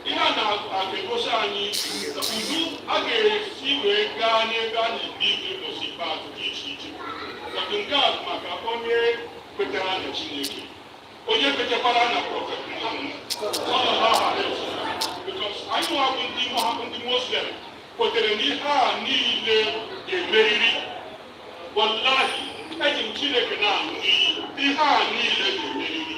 ihe a na-egosi anyị otu a ga-esi wee gaa n'ebe a na-ebi ikpe ụbọchị ikpeazụ dị iche iche but nke a bụ maka onye kwetara na Chineke onye kwetekwara na prọfet Muhammad sallallahu alaihi wasallam because anyị nwa bụ ndị Muhammad ndị Muslim kwetere na ihe a niile ga-emeriri wallahi eji m Chineke na-aṅụ iyi ihe a niile ga-emeriri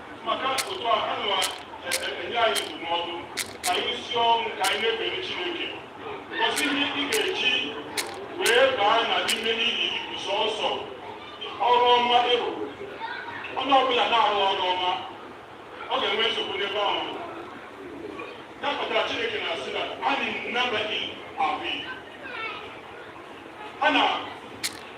maka otu a ha na-enye anyị ndụmọdụ ka anyị si ọnwụ ka anyị na-ekpere Chineke cos ihe ị ga-eji wee baa na n'ime n'ihi ibu sọsọ ọrụ ọma ịrụ onye ọbụla na-arụ ọrụ ọma ọ ga-enwe nsogbu n'ebe ahụ ya kpatara Chineke na-asị na anyị nnabaghị ahụ a na